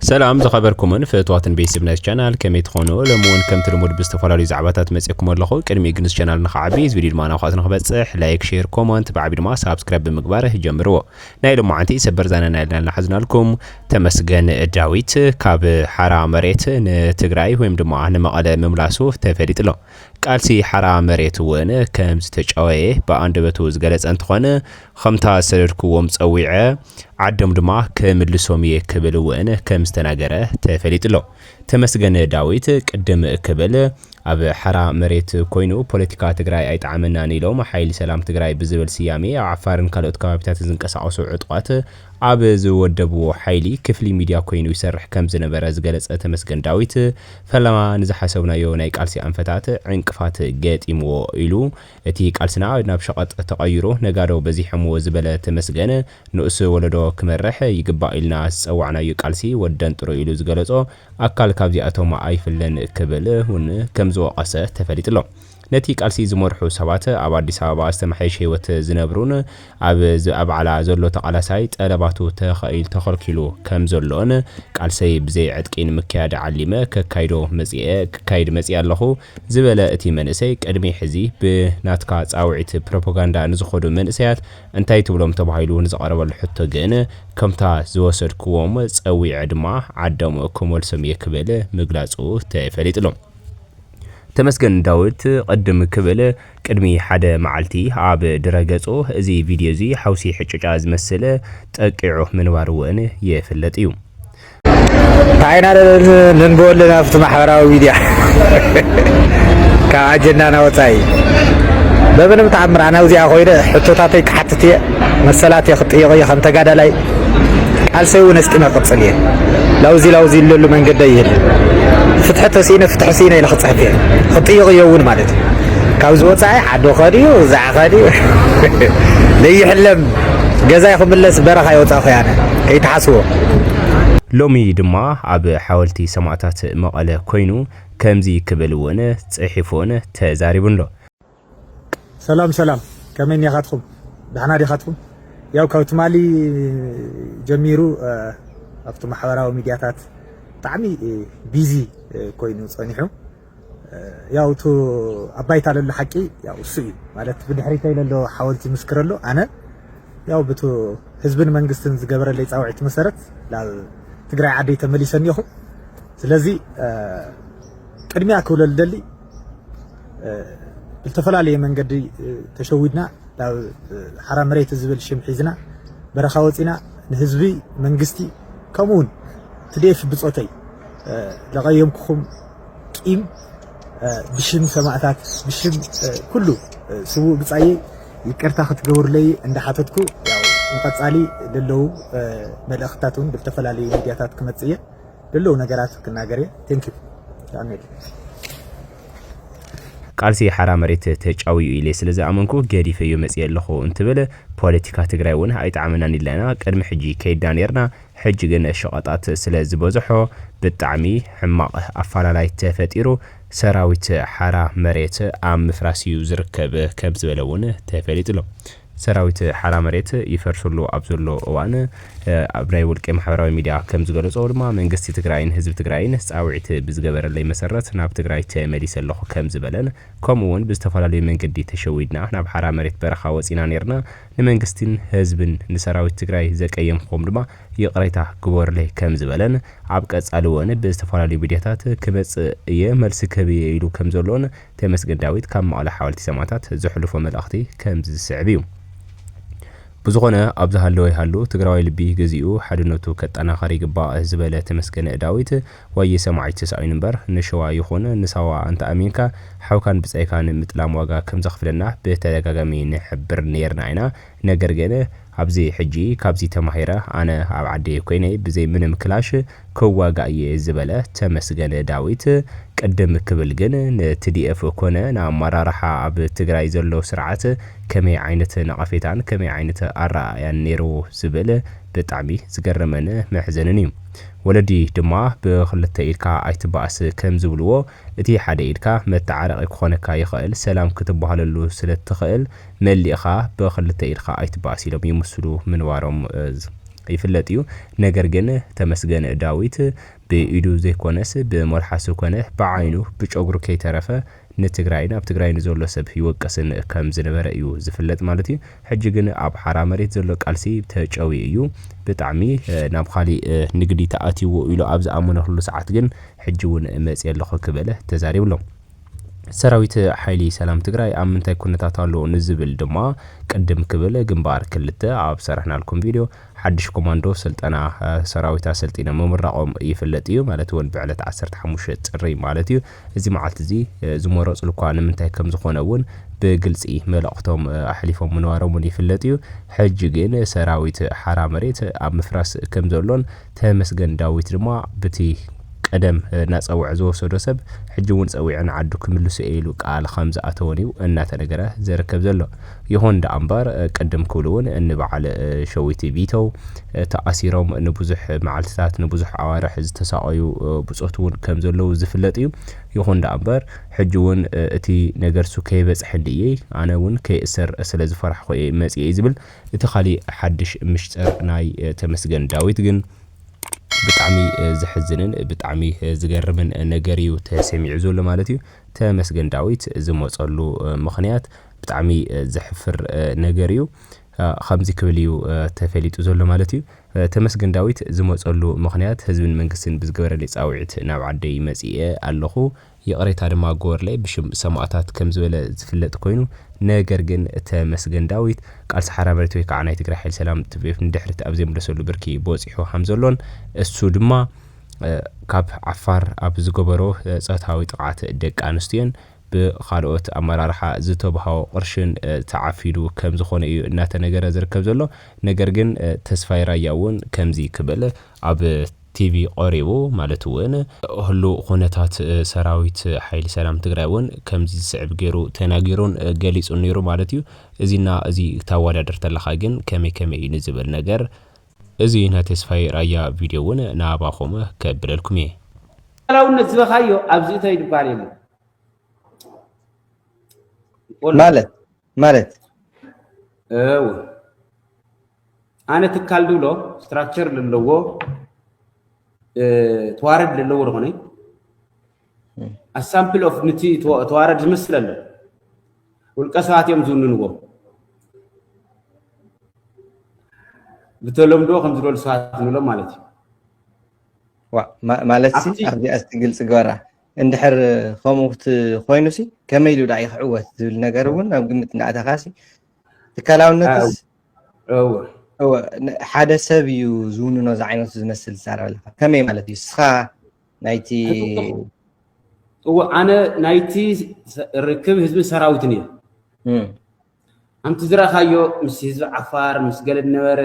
ሰላም ዝኸበርኩምን ፍእትዋትን ቤስብ ናይስ ቻናል ከመይ ትኾኑ ሎሚ እውን ከምቲ ልሙድ ብዝተፈላለዩ ዛዕባታት መጺእኩም ኣለኹ ቅድሚኡ ግን እዚ ቻናል ንኸዓቢ እዚ ቪድዮ ድማ ናብኻት ንክበጽሕ ላይክ ሼር ኮመንት ብዓቢ ድማ ሳብስክራይብ ብምግባር ጀምርዎ ናይ ሎማዓንቲ ሰበር ዛና ናይ ልና ናሓዝናልኩም ተመስገን ዳዊት ካብ ሓራ መሬት ንትግራይ ወይም ድማ ንመቐለ ምምላሱ ተፈሊጡ ኣሎ። ቃልሲ ሓራ መሬት እውን ከም ዝተጫወየ ብኣንደበቱ ዝገለጸ እንትኾነ ከምታ ዝሰደድክዎም ጸዊዐ ዓዶም ድማ ክምልሶም ኢየ ክብል እውን ከም ዝተናገረ ተፈሊጡ ኣሎ። ተመስገን ዳዊት ቅድም ክብል ኣብ ሓራ መሬት ኮይኑ ፖለቲካ ትግራይ ኣይጠዓመናን ኢሎም ሓይሊ ሰላም ትግራይ ብዝብል ስያሜ ኣብ ዓፋርን ካልኦት ከባቢታትን ዝንቀሳቐሱ ዕጡቓት ኣብ ዝወደብዎ ሓይሊ ክፍሊ ሚድያ ኮይኑ ይሰርሕ ከም ዝነበረ ዝገለፀ ተመስገን ዳዊት ፈለማ ንዝሓሰብናዮ ናይ ቃልሲ ኣንፈታት ዕንቅፋት ገጢምዎ ኢሉ እቲ ቃልስና ናብ ሸቐጥ ተቐይሩ ነጋዶ በዚሖምዎ ዝበለ ተመስገን፣ ንኡስ ወለዶ ክመርሕ ይግባእ ኢልና ዝጸዋዕናዩ ቃልሲ ወደንጥሩ ኢሉ ዝገለጾ ኣካል ካብዚኣቶም ኣይፍለን ክብል ውን ከም ዝወቐሰ ተፈሊጡ'ሎ። ነቲ ቃልሲ ዝመርሑ ሰባት ኣብ ኣዲስ ኣበባ ዝተመሓየሸ ህይወት ዝነብሩን፣ ኣብ ዝኣባዕላ ዘሎ ተቓላሳይ ጠለባቱ ተኸኢል ተኸልኪሉ ከም ዘሎን ቃልሰይ ብዘይ ዕጥቂ ንምክያድ ዓሊመ ከካይዶ መጺኤ ክካይድ መጺኤ ኣለኹ ዝበለ እቲ መንእሰይ ቅድሚ ሕዚ ብ ናትካ ጻውዒት ፕሮፖጋንዳ ንዝኸዱ መንእሰያት እንታይ ትብሎም ተባሂሉ ንዝቐረበሉ ሕቶ ግን ከምታ ዝወሰድክዎም ጸዊዐ ድማ ዓዶም ክመልሶም እየ ክብል ምግላጹ ተፈሊጡ'ሎ። ተመስገን ዳዊት ቅድም ክብል ቅድሚ ሓደ መዓልቲ ኣብ ድረ ገጹ እዚ ቪድዮ እዚ ሓውሲ ሕጭጫ ዝመስል ጠቂዑ ምንባሩ እውን ይፍለጥ እዩ። እንታይ ኢና ነንብቦ ኣለና ኣብቲ ማሕበራዊ ሚድያ ካብ ኣጀንዳና ወፃኢ በምንም ተኣምር ኣነ ኣብዚኣ ኮይነ ሕቶታተይ ክሓትት እየ መሰላት እየ ክጥየቕ እየ ከም ተጋዳላይ ቃልሰይ እውን ኣስጢመ ክቕፅል እየ። ላውዚ ላውዚ እለሉ መንገዲ ኣይህልን። ፍትሒ ተስኢነ ፍትሒ ስኢነ ኢለ ክፅሕፍ እየ። ክጥይቕ እየ እውን ማለት እዩ። ካብዚ ወፃኢ ዓዲ ከድዩ እዛዕ ከድዩ ለይሕለም ገዛይ ክምለስ በረኻ ይወፃኹ ያነ ከይትሓስቦ ሎሚ ድማ ኣብ ሓወልቲ ሰማእታት መቐለ ኮይኑ ከምዚ ክብል እውን ፅሒፉን ተዛሪቡን ኣሎ። ሰላም ሰላም ከመይ እኒኣኻትኩም ዳሕና ዲኻትኩም ያው ካብ ትማሊ ጀሚሩ ኣብቲ ማሕበራዊ ሚድያታት ብጣዕሚ ቢዚ ኮይኑ ፀኒሑ ያው እቲ ኣብ ባይታ ዘሎ ሓቂ ያው እሱ እዩ ማለት ብድሕሪተይ ዘሎ ሓወልቲ ይምስክር ኣሎ ኣነ ያው ብቲ ህዝብን መንግስትን ዝገበረለይ ፃውዒት መሰረት ናብ ትግራይ ዓደይ ተመሊሰ እኒኹ ስለዚ ቅድሚያ ክብለሉ ደሊ ብልተፈላለየ መንገዲ ተሸዊድና ናብ ሓራ መሬት ዝብል ሽም ሒዝና በረኻ ወፂና ንህዝቢ መንግስቲ ከምኡ እውን ትዴፍ ብፆተይ ዘቐየምኩኹም ቂም ብሽም ሰማእታት ብሽም ኩሉ ስውእ ብፃየ ይቅርታ ክትገብርለይ እንዳሓተትኩ ንቐፃሊ ለለዉ መልእኽትታት እውን ብዝተፈላለዩ ሚድያታት ክመፅእ እየ ድልው ነገራት ክናገር እየ ቴንኪው ብጣዕሚ ቃልሲ ሓራ መሬት ተጫውዩ ኢለ ስለ ዝኣመንኩ ገዲፈዮ መፂኤ ኣለኹ እንትብል ፖለቲካ ትግራይ እውን ኣይጠዓመናን ኢልና ቅድሚ ሕጂ ከይድና ነይርና ሕጂ ግን ሸቐጣት ስለ ዝበዝሖ ብጣዕሚ ሕማቕ ኣፋላላይ ተፈጢሩ ሰራዊት ሓራ መሬት ኣብ ምፍራስ እዩ ዝርከብ ከም ዝበለ እውን ተፈሊጡ ኣሎ። ሰራዊት ሓራ መሬት ይፈርሰሉ ኣብ ዘሎ እዋን ኣብ ናይ ውልቂ ማሕበራዊ ሚድያ ከምዝገለፆ ድማ መንግስቲ ትግራይን ህዝቢ ትግራይን ፃውዒት ብዝገበረለይ መሰረት ናብ ትግራይ ተመሊሰ ኣለኹ ከምዝበለን ከምኡ እውን ብዝተፈላለዩ መንገዲ ተሸዊድና ናብ ሓራ መሬት በረኻ ወፂና ነይርና ንመንግስቲን ህዝብን ንሰራዊት ትግራይ ዘቀየምኹም ድማ ይቅሬታ ግበሩለይ ከምዝበለን ኣብ ቀፃሊ እውን ብዝተፈላለዩ ሚድያታት ክመፅእ እየ መልሲ ክህብ እየ ኢሉ ከምዘሎን ተመስገን ዳዊት ካብ መቐለ ሓወልቲ ሰማእታት ዘሕልፎ መልእኽቲ ከምዚ ዝስዕብ እዩ። ብዝኾነ ኣብ ዝሃለወ ይሃሉ ትግራዋይ ልቢ ገዚኡ ሓድነቱ ከጠናኸር ይግባእ ዝበለ ተመስገን ዳዊት ዋየ ሰማዒት ተሳኢኑ እምበር ንሸዋ ይኹን ንሳዋ ኣንተኣሚንካ ሓውካን ብጻይካን ምጥላም ዋጋ ከምዘኽፍለና ብተደጋጋሚ ንሕብር ነይርና ኢና ነገር ግን ኣብዚ ሕጂ ካብዚ ተማሂረ ኣነ ኣብ ዓደይ ኮይነ ብዘይ ምንም ክላሽ ክዋጋእ እየ ዝበለ ተመስገን ዳዊት ቅድም ክብል ግን ንትዲኤፍ ኮነ ንኣማራርሓ ኣብ ትግራይ ዘሎ ስርዓት ከመይ ዓይነት ነቐፌታን ከመይ ዓይነት ኣረኣእያን ነይሩ ዝብል ብጣዕሚ ዝገረመን መሕዘንን እዩ ወለዲ ድማ ብኽልተ ኢድካ ኣይትባኣስ ከም ዝብልዎ እቲ ሓደ ኢድካ መታዓረቒ ክኾነካ ይኽእል ሰላም ክትባሃለሉ ስለ እትኽእል መሊእኻ ብኽልተ ኢድኻ ኣይትባእስ ኢሎም ይምስሉ ምንባሮም ይፍለጥ እዩ። ነገር ግን ተመስገን ዳዊት ብኢዱ ዘይኮነስ ብመልሓሱ ኮነ ብዓይኑ ብጨጉሩ ከይተረፈ ንትግራይን ኣብ ትግራይ ንዘሎ ሰብ ይወቅስን ከም ዝነበረ እዩ ዝፍለጥ ማለት እዩ። ሕጂ ግን ኣብ ሓራ መሬት ዘሎ ቃልሲ ተጨውዩ እዩ ብጣዕሚ ናብ ኻሊእ ንግዲ ተኣትይዎ ኢሉ ኣብ ዝኣመነሉ ሰዓት ግን ሕጂ እውን መፅየ ኣለኹ ክብል ተዛሪቡ ኣሎ። ሰራዊት ሓይሊ ሰላም ትግራይ ኣብ ምንታይ ኩነታት ኣሎ ንዝብል ድማ ቅድም ክብል ግንባር ክልተ ኣብ ዝሰራሕናልኩም ቪድዮ ሓድሽ ኮማንዶ ስልጠና ሰራዊት ኣሰልጢኖም ምምራቖም ይፍለጥ እዩ። ማለት እውን ብዕለት ዓሰርተ ሓሙሽተ ጥሪ ማለት እዩ። እዚ መዓልቲ እዚ ዝመረፅሉ እኳ ንምንታይ ከም ዝኾነ እውን ብግልፂ መልእኽቶም ኣሕሊፎም ምንባሮም እውን ይፍለጥ እዩ። ሕጂ ግን ሰራዊት ሓራ መሬት ኣብ ምፍራስ ከም ዘሎን ተመስገን ዳዊት ድማ ብቲ ቀደም ናጸውዐ ዝወሰዶ ሰብ ሕጂ እውን ጸዊዑ ንዓዱ ክምልሶ እየ ኢሉ ቃል ከም ዝኣተወን እዩ እናተነገረ ዘርከብ ዘሎ። ይኹን ደኣ እምበር ቅድም ክብሉ እውን እኒ በዓል ሸዊት ቢተው ተኣሲሮም ንብዙሕ መዓልትታት ንብዙሕ ኣዋርሕ ዝተሳቐዩ ብጾት እውን ከም ዘለዉ ዝፍለጥ እዩ። ይኹን ደኣ እምበር ሕጂ እውን እቲ ነገርሱ ከይበጽሐ እንድእየይ ኣነ እውን ከይእሰር ስለ ዝፈራሕኩ እየ መጺኤ ዝብል እቲ ካሊእ ሓድሽ ምሽጥር ናይ ተመስገን ዳዊት ግን ብጣዕሚ ዘሕዝንን ብጣዕሚ ዝገርምን ነገር እዩ ተሰሚዑ ዘሎ ማለት እዩ። ተመስገን ዳዊት ዝመጸሉ ምኽንያት ብጣዕሚ ዘሕፍር ነገር እዩ። ኸምዚ ክብል እዩ ተፈሊጡ ዘሎ ማለት እዩ። ተመስገን ዳዊት ዝመጸሉ ምኽንያት ህዝብን መንግስትን ብዝገበረለይ ጻዊዒት ናብ ዓደይ መጺኤ ኣለኹ። ይቕሬታ ድማ ግበሩለይ ብሽም ሰማእታት ከም ዝበለ ዝፍለጥ ኮይኑ ነገር ግን ተመስገን ዳዊት ቃልሲ ሓራ መሬት ወይ ካዓ ናይ ትግራይ ሓይሊ ሰላም tpf ንድሕሪት ኣብ ዘይምለሰሉ ብርኪ በፂሑ ከም ዘሎን እሱ ድማ ካብ ዓፋር ኣብ ዝገበሮ ፆታዊ ጥቕዓት ደቂ ኣንስትዮን ብኻልኦት ኣመራርሓ ዝተብሃዎ ቕርሽን ተዓፊኑ ከም ዝኾነ እዩ እናተነገረ ዝርከብ ዘሎ ነገር ግን ተስፋይ ራያ እውን ከምዚ ክብል ኣብ ቲቪ ቐሪቡ ማለት እውን ህሉው ኹነታት ሰራዊት ሓይሊ ሰላም ትግራይ እውን ከምዚ ዝስዕብ ገይሩ ተናጊሩን ገሊፁን ነይሩ ማለት እዩ። እዚ እና እዚ ክታዋዳድር ተለኻ ግን ከመይ ከመይ እዩ ንዝብል ነገር እዚ ናይ ተስፋይ ራያ ቪድዮ እውን ንኣባኹም ከብለልኩም እየ። ሉኣላውነት ዝበኻዮ ኣብዚ እተይ ድበሃል የለን። ማለት ማለት እው ኣነ ትካል ድብሎ ስትራክቸር ዘለዎ ተዋረድ ዘለዎ ዝኾነ ኣሳምፕል ኦፍ ንቲ ተዋረድ ዝመስል ኣሎ ውልቀ ሰባት እዮም ዝውንንዎ ብተለምዶ ከም ዝበሉ ሰባት ንብሎም ማለት እዩ ማለት ኣብቲ- ኣብዚኣ እስቲ ግልፂ ግበራ እንድሕር ከምኡ ኮይኑሲ ከመይ ኢሉ ድኣ ክዕወት ዝብል ነገር እውን ኣብ ግምት እንዳኣተኻሲ ትካላውነትስ ሓደ ሰብ እዩ ዝውንኖ ዝዓይነቱ ዝመስል ዝዛረብ ኣለካ ከመይ ማለት እዩ እስኻ ናይቲ እዎ ኣነ ናይቲ ርክብ ህዝብን ሰራዊትን እየ ኣንቲ ዝራካዮ ምስ ህዝቢ ዓፋር ምስ ገለ ድነበረ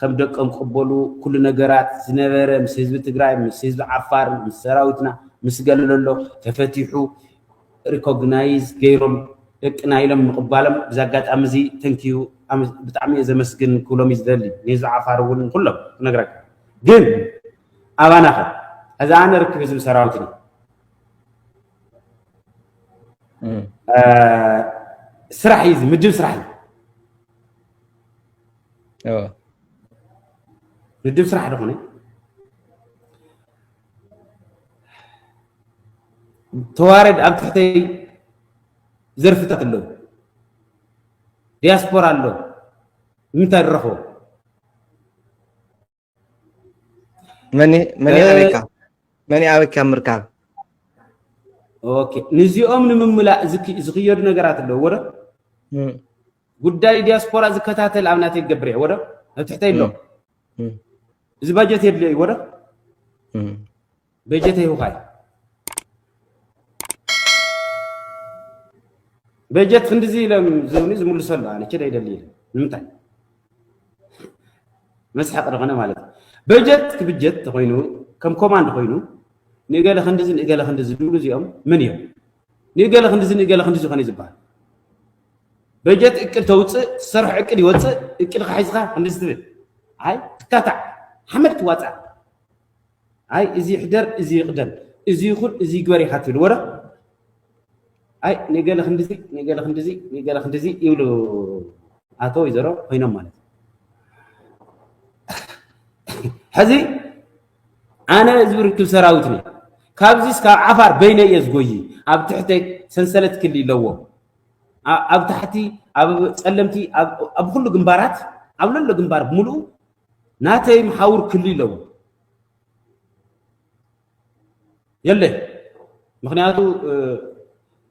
ከም ደቀም ቀበሉ ኩሉ ነገራት ዝነበረ ምስ ህዝቢ ትግራይ ምስ ህዝቢ ዓፋር ምስ ሰራዊትና ምስ ገለ ለሎ ተፈቲሑ ሪኮግናይዝ ገይሮም ደቅና ኢሎም ምቕባሎም ብዚ ኣጋጣሚ እዚ ተንኪዩ ብጣዕሚ እየ ዘመስግን ክብሎም እዩ ዝደሊ ንህዝቢ ዓፋር እውን ንኩሎም ክነግረካ ግን ኣባና ከ ሕዚ ኣነ ርክብ ህዝቢ ሰራዊትን እዩ ስራሕ እዩ እዚ ምድብ ስራሕ እዩ ምድብ ስራሕ ደኾነ ተዋረድ ኣብ ትሕተይ ዘርፍታት ኣለዉ ዲያስፖራ ኣሎ ንምንታይ ንረኽቦ መን መን እ- ኣበይካ መን ኣበይካ ምርካብ ኦኬ ንዚኦም ንምምላእ ዝክ- ዝኽየዱ ነገራት ኣለዎ ዶ እም፣ ጉዳይ ዲያስፖራ ዝከታተል ኣብ ናተይ ክገብር እየ ወዶ ኣብ ትሕተይ ኣሎ እም፣ እዚ ባጀት የድልዮ እዩ ወዶ እም። በጀት ይሁካይ በጀት ክንድዚ ኢሎም ዝብኒ ዝምልሰሉ ኣነ ችደ ይደሊ ኢለ ንምንታይ መስሓቂ ዝኾነ ማለት እዩ በጀት ክብጀት ተኮይኑ ከም ኮማንድ ኮይኑ ንገለ ክንድዚ ንገለ ክንድዚ ዝብሉ እዚኦም ምን እዮም ንገለ ክንድዚ ንገለ ክንድዚ ኮነ ዝበሃል በጀት እቅድ ተውፅእ ዝሰርሕ እቅድ ይወፅእ እቅድካ ሒዝካ ክንድዚ ትብል ኣይ ትካታዕ ሓመድ ትዋፃእ ኣይ እዚ ይሕደር እዚ ይቕደም እዚ ይኹን እዚ ይግበር ኢኻ ትብልዎ ዶ ኣይ ንገለ ክንድዚ ንገለ ክንድዚ ንገለ ክንድዚ ይብሉ ኣቶ ወይዘሮ ኮይኖም ማለት እዩ ሕዚ ኣነ ህዝቢ ርክብ ሰራዊት ነይ ካብዚስ ካብ ዓፋር በይነ እየ ዝጎይ ኣብ ትሕተ ሰንሰለት ክሊ ኣለዎ ኣብ ታሕቲ ኣብ ፀለምቲ ኣብ ኩሉ ግንባራት ኣብ ለሎ ግንባር ብምልኡ ናተይ መሓውር ክሊ ኣለዎ የለይ ምክንያቱ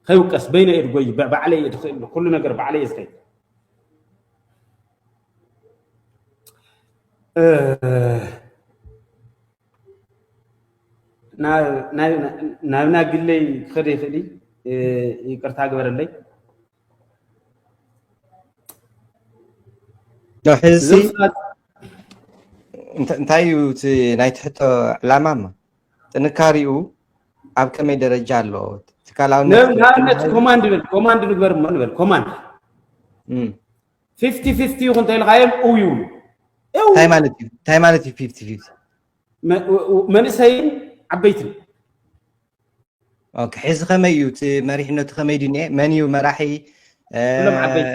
ከይውቀስ በይነ እየ ድጎይ ባዕለይ እየ ድኽእል ኩሉ ነገር ባዕለይ እየ ዝኸይድ ናብና ግለይ ክኸደ ይኽእል ይቅርታ ግበረለይ ዶ ሕዚ እንታይ እዩ እቲ ናይ ትሕቶ ዕላማ እሞ ጥንካሬኡ ኣብ ከመይ ደረጃ ኣሎ ትካላዊነትኣብነት ኮማንድ ንብል ኮማንድ ንግበር እሞ ንበል ኮማንድ ፊፍቲ ፊፍቲ ይኹን ተኢልካዮም እው ይብሉ እንታይ ማለት እዩ እንታይ ማለት እዩ ፊፍቲ ፊፍቲ መንእሰይን ዓበይትን ኦኬ ሕዚ ከመይ እዩ እቲ መሪሕነቱ ከመይ ድዩ እኒኤ መን እዩ መራሒ ኩሎም ዓበይቲ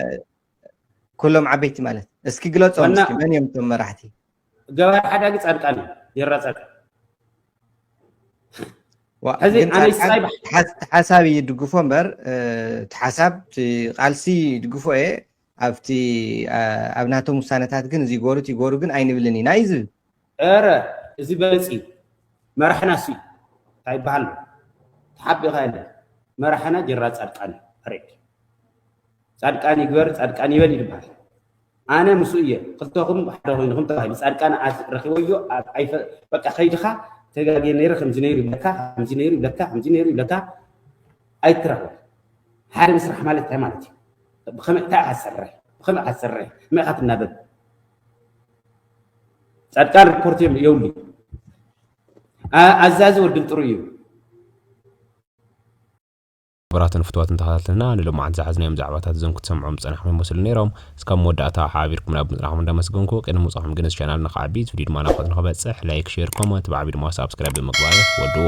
ኩሎም ዓበይቲ ማለት እስኪ ግለፆም እስኪ መን እዮም እቶም መራሕቲ ገባር ሓዳጊ ፃድቃን እዩ የራ ፃድቃን ሕዚ ኣነይ ስራይ ሓሳብ ይድግፎ እምበር እቲ ሓሳብ ቃልሲ ይድግፎ እየ ኣብቲ ኣብ ናቶም ውሳነታት ግን እዚ ይገበሩ እቲ ይገበሩ ግን ኣይንብልን ኢና እዩ ዝብል። እረ እዚ በለጽ እዩ መራሕና እሱ እዩ ታይ ይበሃል ኣሎ ተሓቢእኻ የለን መራሕና ጀነራል ጻድቃን እዩ ፐሬድ ጻድቃን ይግበር ጻድቃን ይበል እዩ ዝበሃል ኣነ ምስኡ እየ ክልተኹም ሓደ ኮይንኹም ተባሂሉ ጻድቃን ረኪበዮ በቃ ከይድኻ ተጋግየ ነይረ ከምዚ ነይሩ ይብለካ ከምዚ ነይሩ ይብለካ ከምዚ ነይሩ ይብለካ ኣይትረኽቦ ሓደ ምስራሕ ማለት እንታይ ማለት እዩ ብኸመይ እንታይ ኢኻ ትሰርሕ ብኸመይ ኢኻ ትሰርሕ ከመይ ኢኻ ትናበብ ጻድቃን ሪፖርት የብሉ ኣዛዚ ወድን ጥሩ እዩ ክቡራትን ፍትዋትን ተኸታተልና ንሎማዓንቲ ዝሓዝናዮም ዛዕባታት እዞም ክትሰምዖም ዝጸናሕኩም ይመስሉ ነይሮም እስካብ መወዳእታ ሓቢርኩም ናብ ምጽናሕኩም እንዳመስገንኩ ቅድሚ ምውጻኹም ግን እዚ ቻናል ንኽዓቢ እዚ ቪድዮ ድማ ናብ ንኽበጽሕ ላይክ ሼር ኮመንት ብዓቢ ድማ ሳብስክራይብ ብምግባር ወድዎ